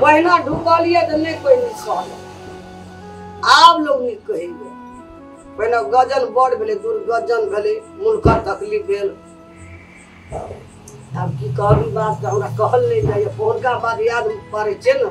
पहिना ढुकल यऽ तऽ नहि कोइ नीक कहलक आब लोग नीक कहैए पहिने गजन बड़ भेलै दुर्गजन भेलै मुनकर तकलीफ भेल आब की कहबी बात तऽ हमरा कहल नहि जाइए फोनका बात याद पड़ै छै ने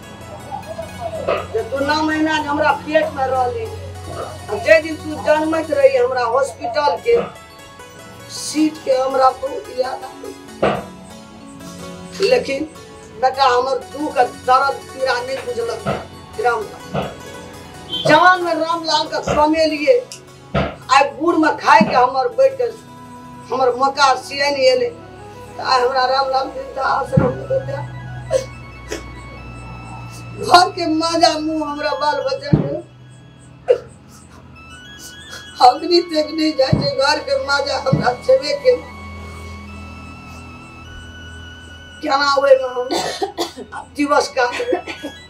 जे तू नौ महीना जे हमरा पेट में रहली आ जे दिन तू जन्मत रही हमरा हॉस्पिटल के सीट के हमरा बहुत याद आवे। लेकिन बेटा हमर दुख आ दर्द पीड़ा नहीं बुझलक राम जवान में रामलाल का कमेलिए आइ भोरमे खाइके हमर बैठके हमर मौका सियन एलै तऽ आइ हमरा राम राम देवता आश्रम देवता घरके माजा मुँह हमरा बाल बच्चाके अग्नि तक नहि जाइ छै घरके माजा हमरा छेबे के केना ओहिमे हम दिवस काटबै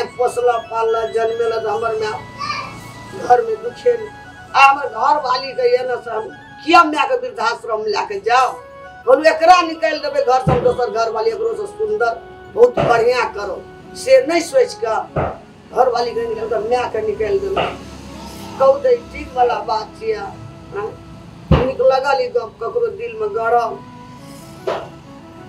आज पोसला पालला जन्मेला तो हमर माँ घर में दुखे आ हमर घर वाली के ये ना से हम किया माँ के वृद्धाश्रम में लाके जाओ बोलू एकरा निकाल देबे घर से हम दोसर घर वाली एकरो से सुंदर बहुत बढ़िया करो से नहीं सोच के घर वाली के निकाल के माँ के निकाल देबे कहू दे ठीक वाला बात छिया हाँ? नीक लगल ई गप ककरो दिल में गरम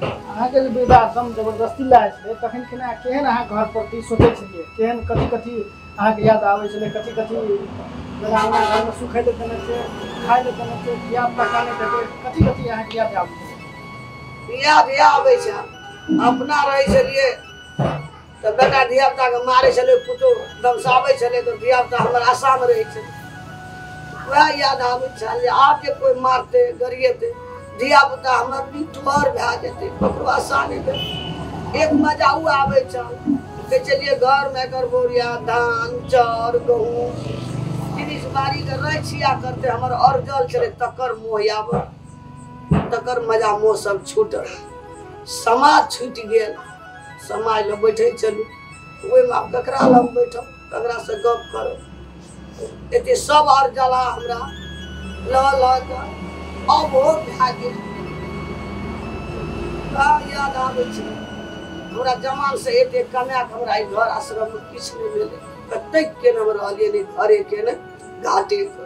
अहाँके जे वृद्धाश्रम जबरदस्ती लायल छलै तखन केना केहन अहाँ घर प्रति सोचै छलियै केहन कथी कथी अहाँके याद आबै छलै कथी कथी जेना हमरा घरमे सुखै लए देने छै खाय लए देने छै बियाह पक्का नहि देतै कथी कथी अहाँके याद आबै छै बिया बिया आबै छै अपना रहै छलियै तऽ बेटा धियापुताके मारै छलै पुतहु दमसाबै छलै तऽ धियापुता हमर आशामे रहै छलै वएह याद आबै छल जे आब जे कोइ मारतै गरिएतै धियापुता हमर बिठर भए जेतै ककरो आशा नहि देतै एक मजा ओ आबै छल कहै छलियै घरमे एकर बोरिया धान चाउर गहूँम जिनिस बाड़ीके रहै छिया करतै हमर अरजल छलै तकर मोह आबऽ तकर मजा मोह सब छूटल समाज छूटि गेल समाय लए बैठे छलू ओहिमे आब ककरा लग बैठब ककरासँ गप करब एते सब आर जला हमरा लऽ लऽ कऽ अब हो भए गेल का याद आबै छै हमरा जमान से एते कमाए कऽ हमरा ई घर आश्रम मे किछु नहि भेलै कतेक केने हम रहलियै नहि घरे केने घाटे के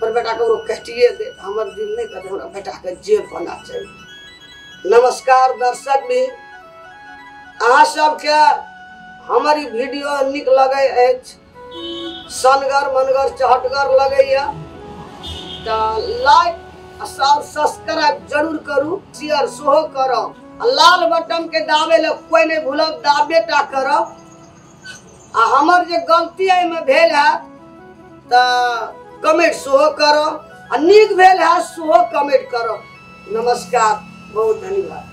हमर बेटा ककरो कटिए देत हमर दिल नहि कटे हमरा बेटाके जे बना चाही नमस्कार दर्शक भी अहाँ सबके हमर ई वीडियो नीक लगै अछि सनगर मनगर चहटगर लगैए तऽ लाइक आ सब सब्सक्राइब जरूर करू शेयर सेहो करब आ लाल बटनके दाबे लए कोइ नहि भूलब दाबे टा करब आ हमर जे गलती एहिमे भेल हैत तऽ कमेंट सेहो करब आ नीक भेल हैत सेहो कमेंट करब नमस्कार बहुत धन्यवाद